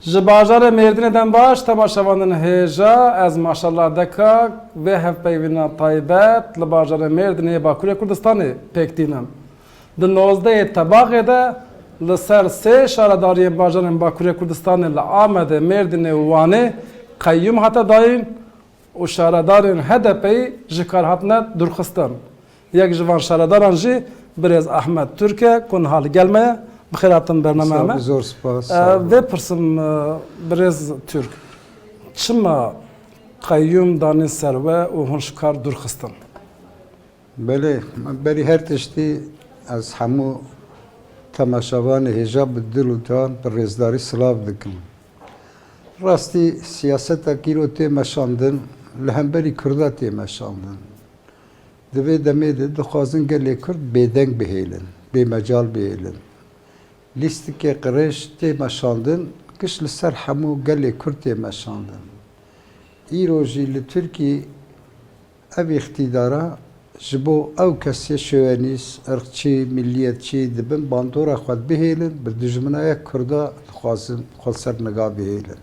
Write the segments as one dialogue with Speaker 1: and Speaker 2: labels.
Speaker 1: Ji bajarê Mêrdînê dem baş tema şevandin hêja ez maşallah deka vê hevpeyvîna taybet li bajarê Mêrdînê yê Bakurê Kurdistanê pêk tînin. Di nozdehê tebaxê de li ser sê şaredariyên bajarên Bakurê Kurdistanê li Amedê, Mêrdînê û Wanê qeyûm hate dayîn, û şaredarên HDP'ê ji kar hatine dûrxistin. Yek ji van şaredaran jî birêz Ahmet Turk e ku niha li gel me ye. Bi xêr hatin bernameya me. Zor spas.
Speaker 2: Vê pirsim
Speaker 1: birêz Turk, çima qeyûm danîn ser we û hûn ji kar dûrxistin?
Speaker 2: Belê, berî her tiştî ez hemû temaşevanê hêja bi dil û dan bi rêzdarî silav dikim. Rastî siyaseta ki îro tê meşandin li hemberî Kurda tê meşandin. Di vê demê de dixwazin gelê Kurd bêdeng bihêlin, bêmecal bihêlin. Lîstikê qirêj tê meşandin, kiş li ser hemû gelê Kurd tê meşandin. Îro jî li Tirkî Ev îqtîdara ji bo ew kesê şovenîst, irqçî, milliyetçî di bin bandora xwe bihêlin, bi dijminaya Kurda dixwazin xwe li ser niga bihêlin.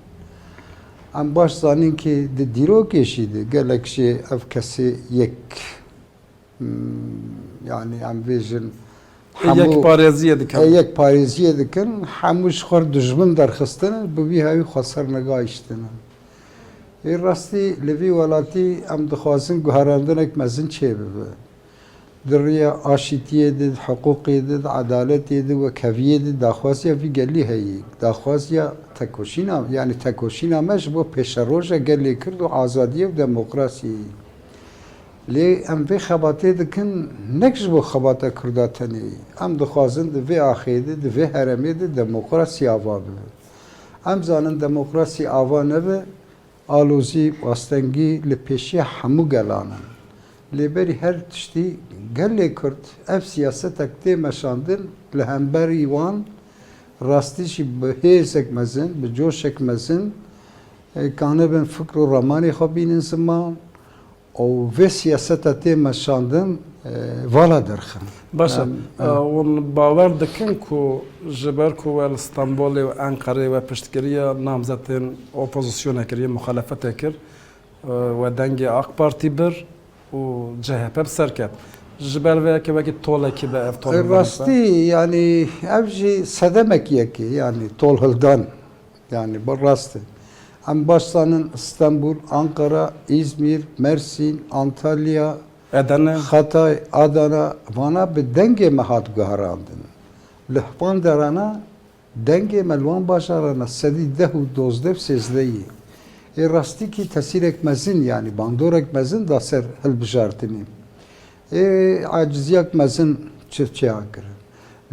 Speaker 2: Em baş zanîn kî di dîrokê jî de gelek jê ev kesê yek yanî em bêjin
Speaker 1: hemû yekparêziyê
Speaker 2: dikin, hemû ji xwe re dijmin derxistin in, bi vî hevî xwe li ser niga îştin in. Bi rastî li vî welatî em dixwazin guherandinek mezin çêbibe. Di riya aşîtiyê de, di hiqûqê de, di edaletê de wek heviyê de daxwaziya vî gelî heye. Daxwaziya tekoşîna yanî tekoşîna me ji bo pêşeroja gelê Kurd û azadiyê û demokrasiyê ye. Lê em vê xebatê dikin nek ji bo xebata Kurda tenê. Em dixwazin di vê axê de, di vê heremê de demokrasî ava bibe. Em zanin demokrasî ava nebe, alozî, astengî li pêşiya hemû gelan in. Lê berî her tiştî gelê Kurd ev siyasetek tê meşandin li hemberî wan rastî jî bi hêzek mezin, bi coşek mezin, kanibin fikr û ramanê xwe bînin ziman Û vê siyaseta tê meşandin vala dirxin. Baş e,
Speaker 1: hûn bawer dikin ku ji ber ku we li Stenbolê û Enqereyê we piştgiriya namzetên opozisyonê kir, yên muxalefetê kir, we dengê AK Partî bir û CHP bi ser ket. Ji ber vê yekê wekî tolekî be ev tol hildan dise? Rastî,
Speaker 2: yanî ev jî sedemekî yekê, yanî tol hildan. Yanî bi rast e. Em baş zanin Stenbul, Anqara, Îzmîr, Mersîn, Antalya, Edene,
Speaker 1: Xatay,
Speaker 2: Adana vana bi dengê me hat guherandin. Li van derana dengê me li wan bajaran e sedî deh û dozdeh û sêzdeh yê. Ê rastîkî tesîrek mezin yanî bandorek mezin da ser hilbijartinê. Ê aciziyek mezin çirçeyan kirin.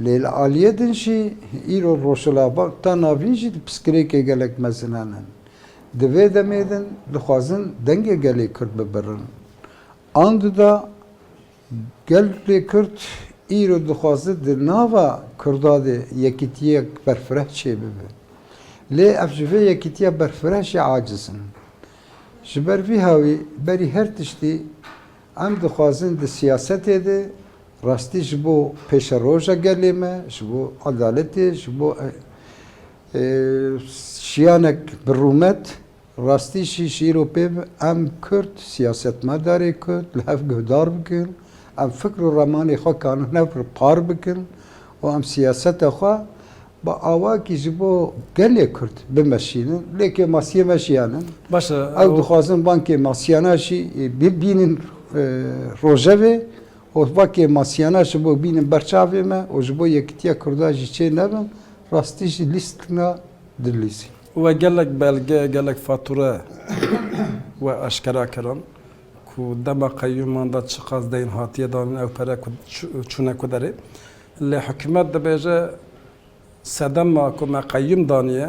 Speaker 2: Lê li aliyê din jî îro Rojhilatbag ta navîn jî di piskirêkê gelek mezinan in. Di vê demê din dixwazin dengê gelê Kurd bibirin. Anduda gelê Kurd îro dixwaze di nava Kurda de yekîtiyek berfireh çêbibe. Lê ev ji vê yekîtiya berfireh jî aciz in. Ji ber vî hawî berî her tiştî Em dixwazin di siyasetê de rastî ji bo pêşeroja gelê me, ji bo edaletê, ji bo jiyanek bi rûmet, rastî jî ji îro pê em Kurd, siyasetmedarê Kurd li hev guhdar bikin, em fikr û ramanê xwe karin hev par bikin û em siyaseta xwe Bi awayekî ji bo gelê Kurd bimeşînin, lêkê masiyê meşiyanin. Baş e. Ew
Speaker 1: dixwazin bankê
Speaker 2: masiyana jî bibînin rojevê û bankê masiyana ji bo bînin ber çavê me û ji bo yekîtiya Kurdan jî çê nebin, rastî jî lîstinga dilîzîn. We gelek
Speaker 1: belge, gelek fatûre we eşkera kirin ku dema qeyûman de çiqas deyn hatiye danin, ew pere ku çûne ku derê. Lê hikûmet dibêje sedema ku me qeyûm daniye,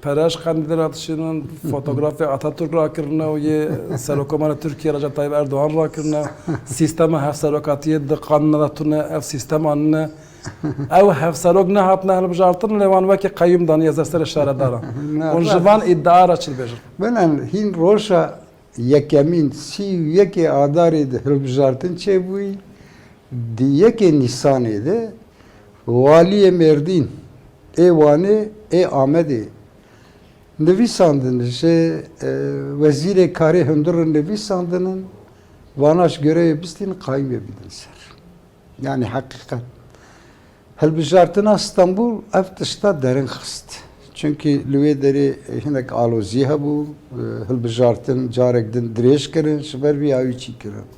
Speaker 1: pereş qendîlê re dişînin, fotografê Ataturk rakirine û yê Serokomarê Tirkiyê Recep Tayyîp Erdogan rakirine, sîstema hevserokatiyê di qanûna de tune ev sîstem anine. Ew hevserok nehatine hilbijartin lê wan wekî qeyûm daniye ser serê şaredaran. Hûn ji van îdia re çi dibêjin? Bine hîn
Speaker 2: roja Yekemîn sî û yekê Adarê de hilbijartin çêbûyî, di yekê Nîsanê de Waliyê Mêrdîn ê Wanê ê Amedê nivîsandin ji Wezîrê Karê Hundir re nivîsandin in, vana ji goreyê bistîn qayimê bidin ser. Yanî heqîqet. Hilbijartina Stenbol ev tişta derin xist. Çimkî li wê derê hinek alozî hebû, hilbijartin carek din dirêj kirin, ji ber vî awî çî kirin.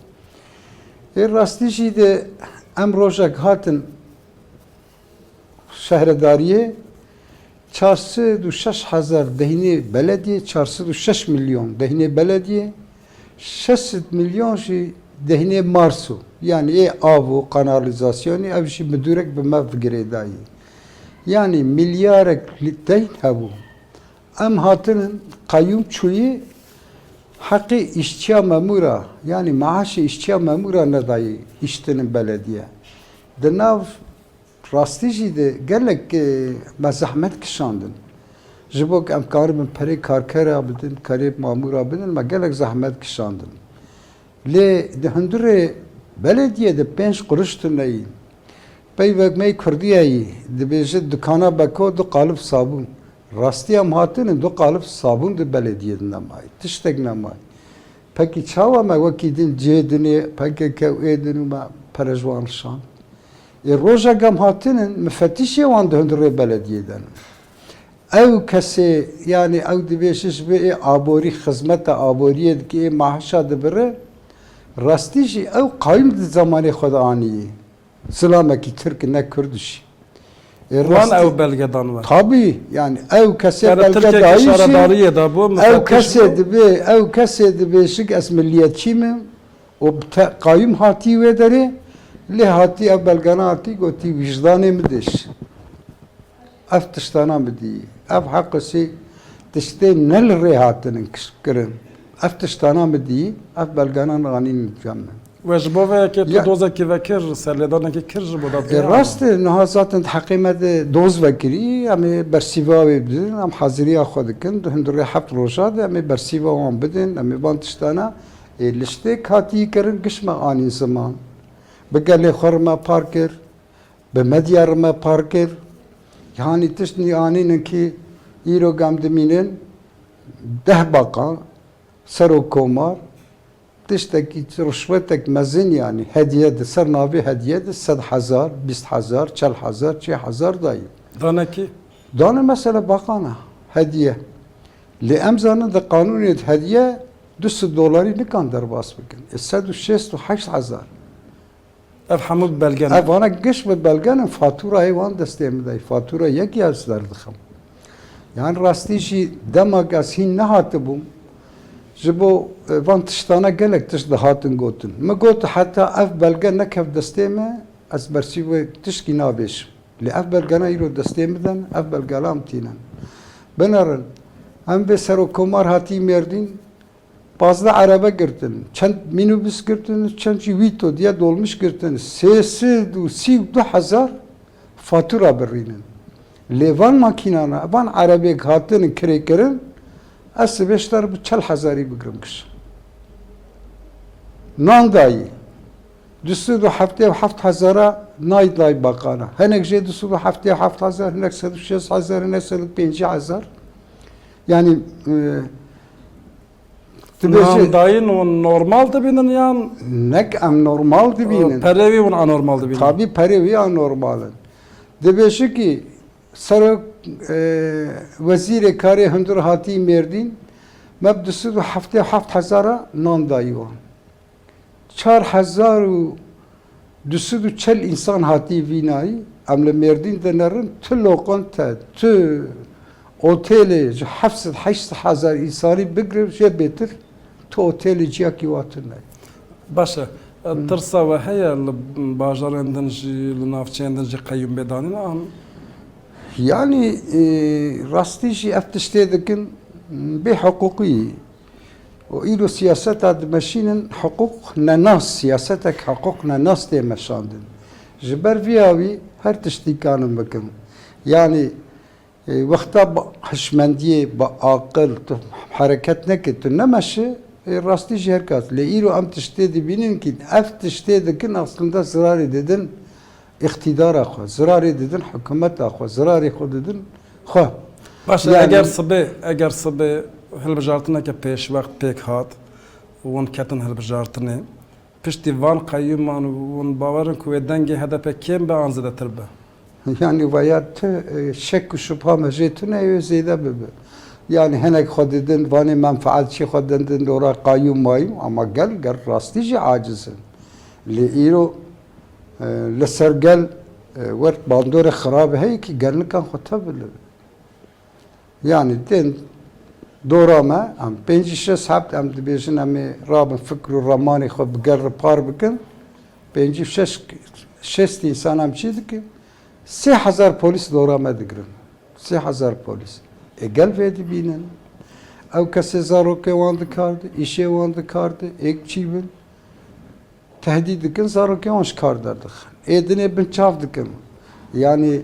Speaker 2: Ê rastî jî de em rojek hatin şehredariyê Çar sed û şeş hezar deynê belediyê, çar sed û şeş milyon deynê belediyê, şeş sed milyon jî deynê Marso yanî ê av û kanalîzasyonê ev jî midûrek bi me girêdayî. Yanî milyarek deyn hebû. Em hatinin qeyûm çûyî heqê îşçiya memûra yanî maaşê îşçiya memûra nedayî îştinin belediye. Di nav Rastî jî de gelek me zehmet kişandin. Ji bo ku em karibin perê karkera bidin, perê mamûra bidin me gelek zehmet kişandin. Lê di hundirê belediyê de pênc qurîş tune yî. Peyvek me yê kurdîya yî dibêje dukana beko du qalib sabûn. Rastî em hatine du qalib sabûn di belediyê de nemayê. Tiştek nemayê. Pekî çawa me wekî din cihê dinê pkk û êdin û me perejwan rişand. Ê roja gam hatin in mifetîşê wan di hundirê belediyê de ne. Ew kesê yanî ew divê ji ji bo ê aborî xizmeta aboriyê dike ê maaşa dibire. Rastî jî ew qayûm di zamanê xwe de aniyê. Zilamekî tirk in ne kurd jî. Ê Wan rastî
Speaker 1: ew belge dan we. Tabî yanî ew
Speaker 2: kesê Yani belge Tirkiyeke dayî jî
Speaker 1: şaredariyê de
Speaker 2: bû ew
Speaker 1: mifetîş kesê bû. dibê
Speaker 2: ew kesê dibê jik ez miliyetçî me û bi te qayim hatî wê derê, lê hatî ev belgana hatî gotî wijdanê min diş ev tiştana bidîyî. Ev hequsî tiştê ne li rê hatinin kişbkirin. Ev tiştana min dîyî, ev belganan anîn nîvca min. We ji bo vê yekê
Speaker 1: tu dozekî vekir, serlêdanekî kir ji bo dadgeha? Rast e, niha
Speaker 2: zaten di heqê me de doz vekirî, em ê bersîva wê bidin, em haziriya xwe dikin, di hundirê heft roja de em ê bersîva wan bidin, em ê van tiştana, Ê li ştê katî kirin giş me anîn ziman. Bi gelê xwe re me par kir, bi medya re me par kir. Yanî tiştî anînin kî îro gam dimînin deh baqan serok komar tiştekî rişwetek mezin yanî hediye di ser navê hediye di sed hezar, bîst hezar, çel hezar, çê hezar dayî. Dane kî?
Speaker 1: Dane mesela
Speaker 2: baqan a hediye. Lê em zanin di qanûnê di hediye Du sed dolarî nikan derbas bikin. Ê sed û şêst û heşt hezar.
Speaker 1: Ev hemû bi belge ne? Ev vana giş bi
Speaker 2: belge ne. Faturayê wan destê min de ye. Fatura yekê ez derdixim. Yan rastî jî dema ku ez hîn nehatibûm ji bo van tiştane gelek tişt dihatin gotin. Min got heta ev belge nekevt destê min ez bersîvê tiştî navêjim. Lê ev belgana îro destê min de ne, ev belgalam tînin. Binerin, em vê Serokomar hatî Mêrdîn, pazdeh erebe girtin, çend mînobîs girtin û çend jî wîto diye dolmîş girtin, sê sed û sî û du hezar fatura birînin. Lê van makînan re, van erebêk hatinin kirêkirin, ez sibê ji te re bi çel hezarî bigirim kişt. Nan dayê. Du sed û heftê û heft hezara nayê dayê bakan e. Hinek jê du sed û heftê û heft hezar, hinek sed û şêst hezar, hinek sed û pêncî hezar. Yanî
Speaker 1: tu bê jê... Dayîn ûn normal dibînin yan? Nek em
Speaker 2: normal dibînin. Perê wî ûn anormal
Speaker 1: dibînin? Tabî perê wî
Speaker 2: anormal in. Dibêje kî serok wezîrê karê hundir hatî Mêrdîn me bi du sed û heftê û heft hezara nan dayî wan. Çar hezar û du sed û çel însan hatî vînayî. Em li Mêrdîn de ne rind tu loqente, tu otêlê ji heft sed heşt sed hezar însanî bigre jê bêtir tu otêlê ciyakî wa tune ye. Baş e.
Speaker 1: Tirsa we heye li bajarên din jî, li navçeyên din jî qeyûm bê danîn an?
Speaker 2: Yanî rastî jî ev tiştê dikin bê hiqûqî Û îro siyaseta dimeşînin hiqûq nenas, siyasetek hiqûq nenas tê meşandin. Ji ber vî ya wî her tişt dîkanim bikim. Yanî wexta bi hişmendiyê, bi aqil tu hereket nekî, tu nemeşi, ê rastî jî her kat. Lê îro em tiştê dibînin kî ev tiştê dikin aslinde zirarî didin îqtîdara xwe, zirarê didin hikûmeta xwe, zirarê xwe didin xwe. Baş
Speaker 1: e, eger sibê,
Speaker 2: eger sibê
Speaker 1: hilbijartineke pêşwext pêk hat û hûn ketin hilbijartinê, piştî van qeyûman hûn bawer in ku wê dengê HDP'ê kêm be an zêdetir be? Yanî vaya
Speaker 2: tu şek û şubha me jê tune ye wê zêde bibe. Yanî hinek xwe didin vanê menfaetçî xwe didin dora qeyûm mayûm ama gel ger rastî jî aciz in. Lê îro Li ser gel wert bandorê xirab heye ki gelnikan xwe tevile. Yanî tên dora me em pêncî şeş hebt em dibêjin em ê rabin fikr û ramanê xwe bi gel re par bikin. Pêncî û şeş şêst însan em çi dikin? Sê hezar polîs dora me digirin. Sê hezar polîs. Ê gel vê dibînin. Ew kesê zarokê wan dikardi, îşê wan dikardi, ê çi bin? Tehdît dikin zarokên wan ji kar derdixin. Ê dinê binçav dikin. Yanî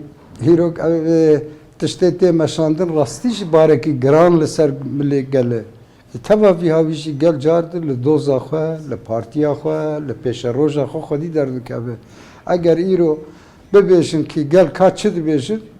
Speaker 2: hîrok ev tiştê tê meşandin rastî jî barekî giran li ser milê gel e. Ji teva vî havî jî gel car di li doza xwe, li partiya xwe, li pêşeroja xwe xwedî derdikeve. Eger îro bibêjin kî gel ka çi dibêjin,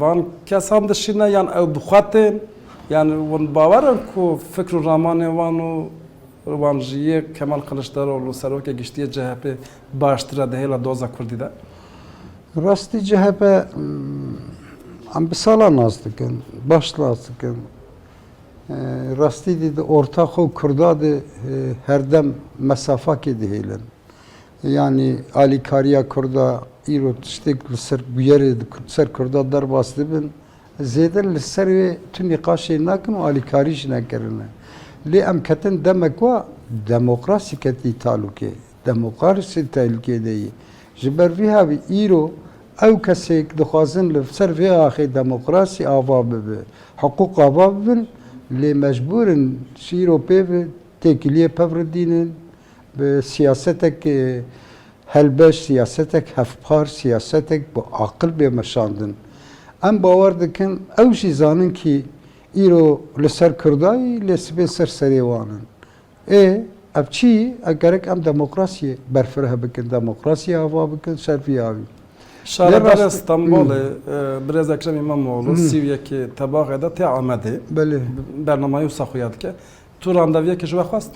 Speaker 1: Van kesan dişîne yan ew bi xwe tên yan wan bi bawer in ku fikr û ramanên wan û wan ji yê Kemal Kiliçdaroglu Serokê Giştî yê CHP'ê baştir e di hêla doza Kurdî de? Rastî
Speaker 2: CHP em bi salan nas dikin, baş nas dikin. Rastî dî di orta xwe û Kurda dê herdem mesafakê dihêlin. Yanî alîkariya Kurda îro tiştêk li ser bûyerê di ser Kurda derbas dibin, zêde li ser wê tu nîqaşê nakin û alîkarî jî nekirine. Lê em ketin demek wa demokrasî ketî talûkê, demokrasî tehlûkê de yê. Ji ber vî havî îro ew kesêk dixwazin li ser vê axê demokrasî ava bibe, hiqûq ava bibin lê mecbûr in ji îro pê ve têkiliyê pevridînin, Bi siyasetek helbest, siyasetek hevpar, siyasetek bi aqil bê meşandin. Em bawer dikin ew jî zanin kî îro li ser Kurdayî lê sibê ser serê wan in. Ê ev çi? Ev gerek em demokrasiyê berfireh bikin, demokrasiyê ava bikin ser vî awî. Şaredarê
Speaker 1: Stenbolê Birêz Ekrem Îmamoğlu sî û yekê Tebaxê de tê Amedê,
Speaker 2: bernamayê wisa
Speaker 1: xuya dike. Tu randevuyekê ji we xwest?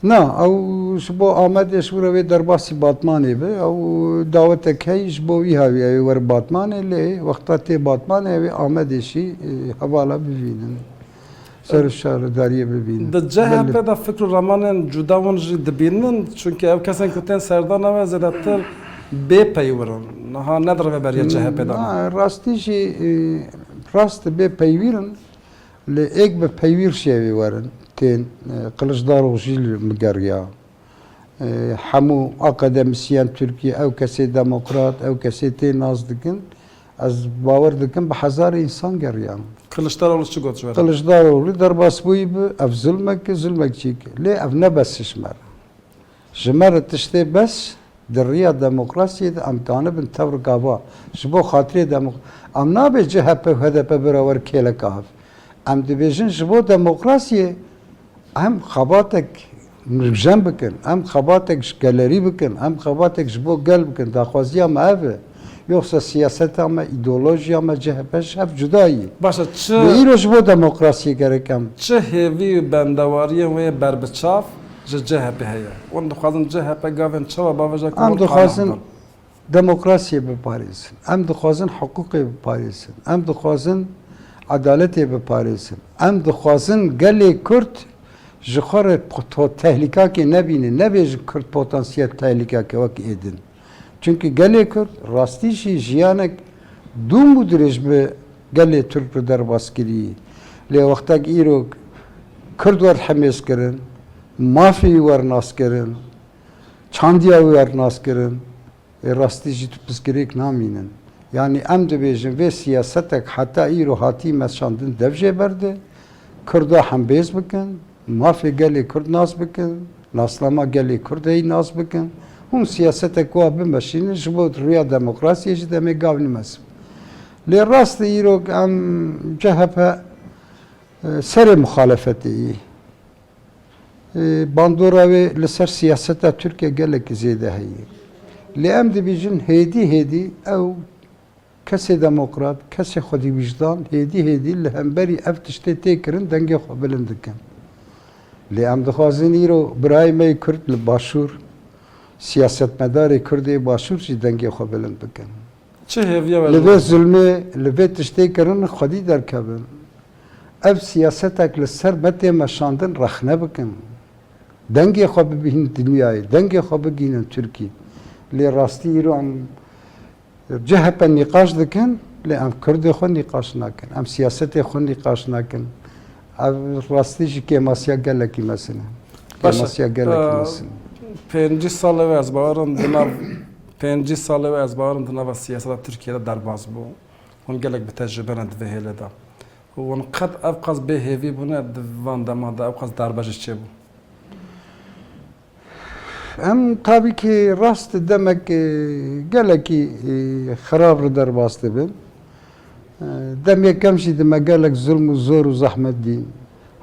Speaker 1: Na,
Speaker 2: ew ji bo Amedê ji wira wê derbasî Batmanê be. Ew dawetek heyî ji bo wîha wî ew ê were Batmanê lê wexta tê Batmanê ew ê Amedê jî hevala bivînin. Ser şaredariyê bivînin. Di CHP de
Speaker 1: fikr û ramanên cuda hûn jî dibînin. Çunke ew kesên ku tên serdana we zêdetir bêpeywir in. Niha ne di rêveberiya CHP'ê de ne. Rastî jî
Speaker 2: rast e bêpeywir in. Lê êk bi peywîr şêwî werin tên Qiliçdarog jî li miger ya. Hemû akademisyen Tirkî ew kesê demokrat, ew kesê tê nas dikin. Ez bawer dikim bi hezar însan geriyan. Qiliçdaroglu çi got
Speaker 1: ji we re? Qiliçdaroglu derbasbûyî
Speaker 2: bi ev zilmek e, zilmek çî ki. Lê ev ne besişmer e. Ji me re tiştê bes di riya demokrasiyê de em dianibin tewr gava ji bo xatirê demok em nabê chp û hdp bira wer kêleka hev. Em dibêjin ji bo demokrasiyê em xebatek nûkjen bikin, em xebatek ji gelerî bikin, em xebatek ji bo gel bikin daxwaziya me ev e. Yoksa siyaseta me, îdeolojiya me, chp ji hev cuda yî. Baş e çi. Lê îro
Speaker 1: ji bo demokrasiyê
Speaker 2: gerek em. Çi hêvî û
Speaker 1: bendewariyên wê ber bi çav ji chp heye? Wan dixwazin chp gavên çawa bavêje ku wan qane bibin. Em dixwazin
Speaker 2: demokrasiyê biparêzin. Em dixwazin hiqûqê biparêzin. Em dixwazin edaletê biparêzin. Em dixwazin gelê Kurd ji xwe re tehlîkakê nebîne. Nebêjin Kurd potansiyel tehlîkeke wek êdin. Çimkî gelê Kurd rastî jî jiyanek dûm û dirêj bi gelê Tirk re derbas kirî. Lê wextek îro Kurd wer hemêz kirin, mafê wî wer nas kirin, çandiya wî wer nas kirin ê rastî jî tu pirsgirêk namînin. Yanî em dibêjin vê siyasetek heta îro hatî meşandin dev jê berdi, Kurda hembêz bikin. Mafê gelê Kurd nas bikin, nasnama gelê Kurdeyî nas bikin. Hûn siyaseteke wa bimeşînin ji bo rûya demokrasiyê jî demê gavnî mezin. Lê rast e îrok em chp serê muxalefetê yê. Bandora wê li ser siyaseta Tirkiye gelekî zêde heye. Lê em dibîjin hêdî hêdî ew Kesê demokrat, kesê xwedîwîjdan hêdî hêdî li hemberî ev tiştê tê kirin dengê xwe bilind dikin. Lê em dixwazin îro birayê me yê Kurd li Başûr, siyasetmedarê Kurd ê Başûr jî dengê xwe bilind bikin. Çi hêviya
Speaker 1: we li vê zulmê,
Speaker 2: li vê tiştê kirin xwedî derkevin. Ev siyasetek li ser me tê meşandin rexne bikin. Dengê xwe bibînin dinyayê, dengê xwe bigihînin Tirkî. Lê rastî îro em CHP nîqaş dikin lê em Kurdê xwe nîqaş nakin. Em siyasetê xwe nîqaş nakin. Ev rastî jî kêmasiya gelekî mesin e. Kêmasiya gelekî mesin e. Pêncî
Speaker 1: salê wê ez bawerim di nav pêncî salê wê ez bawerim di nava siyaseta Tirkiyeyê de derbas bû. Hûn gelek bi tecrûbe ne di vê hêlê de. Hûn qet ev qas bêhêvî bûne di van deman de ew qas darbe jî çêbû.
Speaker 2: Em tabîkî rast di demek gelekî xirab li derbas dibin. Dem yekem jî di me gelek zilm û zor û zehmet dîn.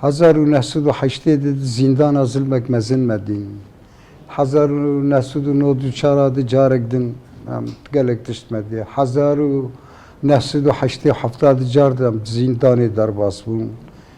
Speaker 2: Hezar û neh sed û heştê di di zîndana zilmek mezin me dîn. Hezar û neh sed û nod û çar a di carek din em gelek tişt me dî. Hezar û neh sed û heştê û hefta di car di em di zîndanê derbas bûn.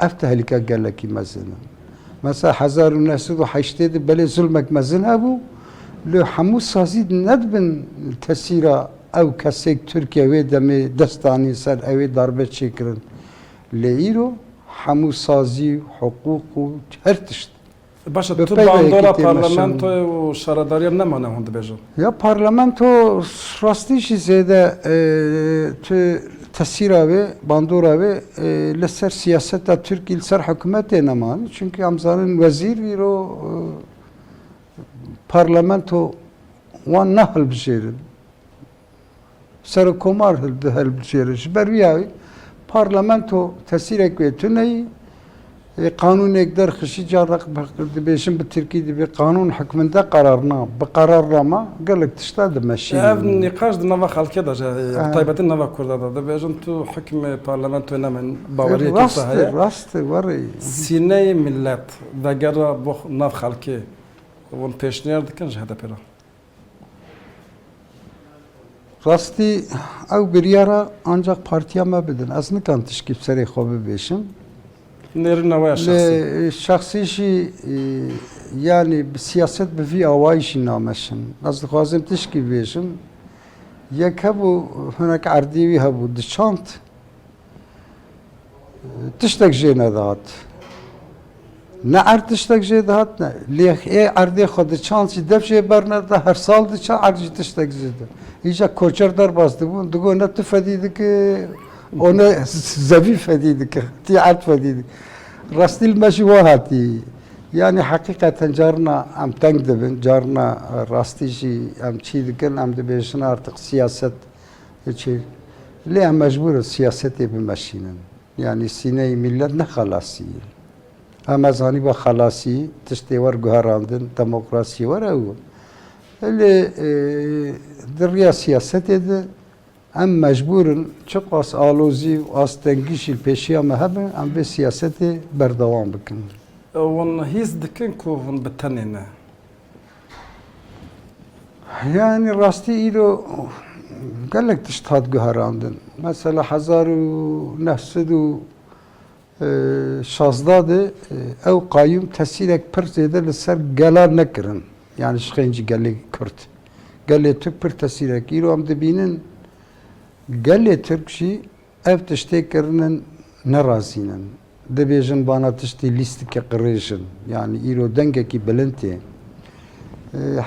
Speaker 2: Ev tehlike gelekî mezin in. Mesela hezar û neh sed û heştê de belê zilmek mezin hebû lê hemû sazî ne dibin li tesîra ew kesek Tirkiye wê demê dest danîn ser ewê darbe çêkirin. Lê îro hemû sazî, hiqûq û her tişt. Baş e, tu bandora
Speaker 1: parlamentoyê
Speaker 2: û
Speaker 1: şaredariyan nemane hûn dibêjin? Ya parlamento
Speaker 2: rastî jî zêde tu tesîra wê, bandora wê li ser siyaseta Tirkî li ser hikûmetê neman. Çimkî em zanin wezîr vîro parlamento wan nahilbijêrin. Serokkomar di hilbijarê de ji ber vî yayê parlamento tesîrek wê tune yî. Yê qanûnêk derxişî carna dibêjin bi tirkî divê qanûn hikminde qerarna bi qerarnama gelek tişta dimeşînin. Ev nîqaş di
Speaker 1: nava xelkê de jî heye. Bi taybetî nava kurda de dibêjin tu hikmê parlamentoyê nemenî baweriyek wisa heye. Rast e, rast e werê.
Speaker 2: Sîneyê
Speaker 1: milet vegera bo nav xelkê hûn pêşniyar dikin ji HDP'ê re.
Speaker 2: Rastî ew biryara ancak partiya me bidin. Ez nikan tişkî bi serê xwe bibêjim. Nêrin
Speaker 1: neweya şexsî. Şexsî jî
Speaker 2: yanî bi siyaset bi vî awayî jî nameşin. Ez dixwazim tişkî bibêjim. Yek hebû hinek erdî wî hebû diçand. Tiştek jê nedihat. Ne erd tiştek jê dihat ne. Lê ê erdê xwe diçand jî dev jê berneda her sal diça erd jî tiştek jê de. Îca koçer derbas dibûn digo ne tu fedî dike û ne zevî fedî dike. Tî erd fedî dike. Rastî li me jî wa hatî. Yani heqîqeten carina em teng dibin, carina rastî jî em çî dikin, em dibêjin artık siyaset Hiçê. Lê em mecbûr in siyasetê bimeşînin. Yanî sîneyê mîlet ne xelasî ye. Ha me zanîba xelasî tiştê wer guherandin demokrasiyê wer ew in. Lê di riya siyasetê de em mecbûr in çiqas alozî û astengî jî li pêşiya me hebe em vê siyasetê berdewam bikin. Hûn
Speaker 1: hîs dikin ku hûn bi tenê ne.
Speaker 2: Yani rastî îro gelek tişt hat guherandin. Mesela hezar û neh sed û şazdeh de ew qayûm tesîrek pir zêde li ser gelan nekirin. Yani ji xênc gelê Kurd. Gelê Turk pir tesîrek îro em dibînin gelê Turk jî Ev tiştê kirinin ne razîn in. Dibêjin bana tiştî lîstikê qirêj in. Yanî îro dengekî bilind yê.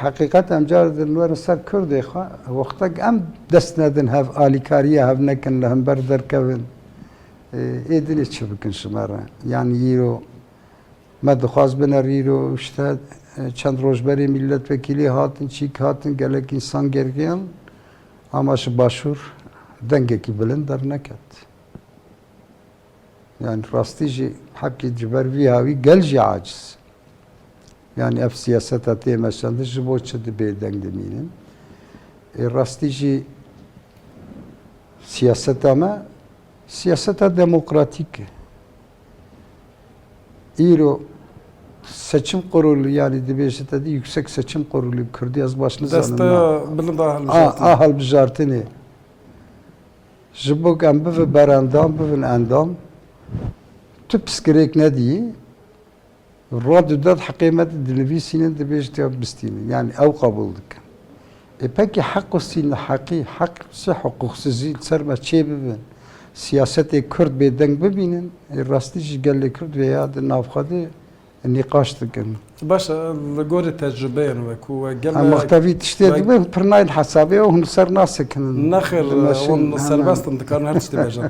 Speaker 2: Heqîqet em car din werin ser kurdê xwe. Wextek em dest nedin hev alîkariya hev nekin li hember derkevin. Ê dinê çi bikin ji me re? Yanî îro me dixwaz biner îro işte çend roj berê mîletvekîlî hatin çîk hatin gelek însan gergiyan Ama ji başûr dengekî bilind derneket. Yani rastî jî heqî ji ber vî hawî gel jî aciz e. Yani ev siyaseta tê meşandin ji bo çi di bêdeng dimînin. Ê rastî jî siyaseta me siyaseta demokratîk e. Îro Seçim Qurulî yanî dibêje te dî Yuksek Seçim Qurulî bi kurdî ez baş nizanim. Desteya Bilind
Speaker 1: a
Speaker 2: Hilbijartinê ji bo ku em bivin berendam bivin endam tu pirsgirêk nedîyî Radyo Dad heqê me di dinivîsînin dibêjin tê bistînin yanî ew qebûl dikin. Ê pekî heq û sîn li heqî heq sê hiqûqsizî li ser me çê bibe. Siyasetê kurd bêdeng bibînin ê rastî jî gelê kurd vêya di nav xwe de nîqaş dikin. Baş e li
Speaker 1: gorî tecrubeyên we ku we gel. Em wexta vî tiştê
Speaker 2: dibin pir nayên hesabê ew hûn li ser nasekinin. Nexir hûn
Speaker 1: serbest in dikarin her tiştî bêjin.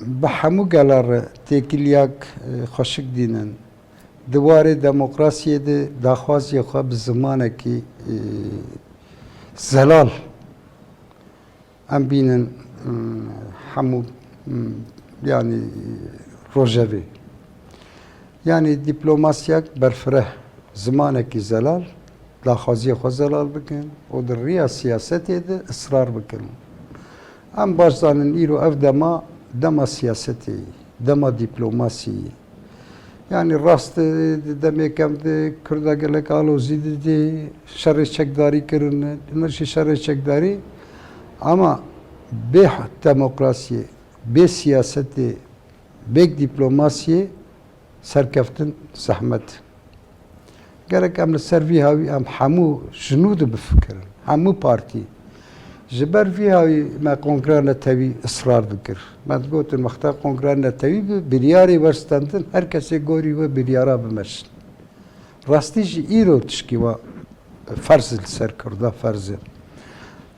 Speaker 2: Bi hemû gela re têkiliyak xweşik dînin. Di warê demokrasiyê de daxwaziyê xwe bi zimanekî zelal em bînin hemû yanî rojevê. Yanî dîplomasiyek berfireh, zimanekî zelal daxwaziyê xwe zelal bikin û di riya siyasetê de israr bikin. Em baş zanin îro ev dema, dema siyasetê ye, dema dîplomasiyê ye. Yanî rast e di demêkan de Kurda gelek alozî didê, şerê çekdarî kirin, himir jî şerê çekdarî ama bê demokrasiyê, bê siyasetê, bê dîplomasiyê Serkeftin zehmet e. Gerek em li ser vî hawî em hemû jinû de bifikirin, hemû partî. Ji ber vî hawî me Kongreya Netewî israr dikir. Me digotin wexta Kongreya Netewî bi biryarê werstendin her kesê gorî wê biryara bimeşin. Rastî jî îro tişkî wa ferz li ser Kurda ferz e.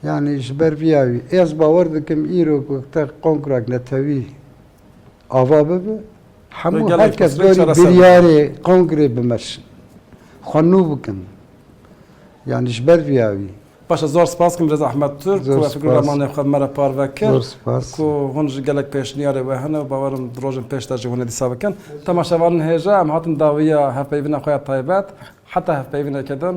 Speaker 2: Yanî ji ber vî hawî ez bawer dikim îro ku te Kongrek Netewî Ava bibe hemû her kes berî biryarê kongrê bimeşin. Xwe nû bikin. Yanî ji ber vîya wî. Baş e zor spas dikim
Speaker 1: Reza Ahmed Turk ku ez fikirim ramanê xwe me re parve kir ku
Speaker 2: hûn ji gelek
Speaker 1: pêşniyarê we hene û bawer im di rojên pêş de jî hûn ê dîsa bikin. Temaşevanên hêja em hatin dawiya hevpeyvîna xwe ya taybet heta hevpeyvîneke din.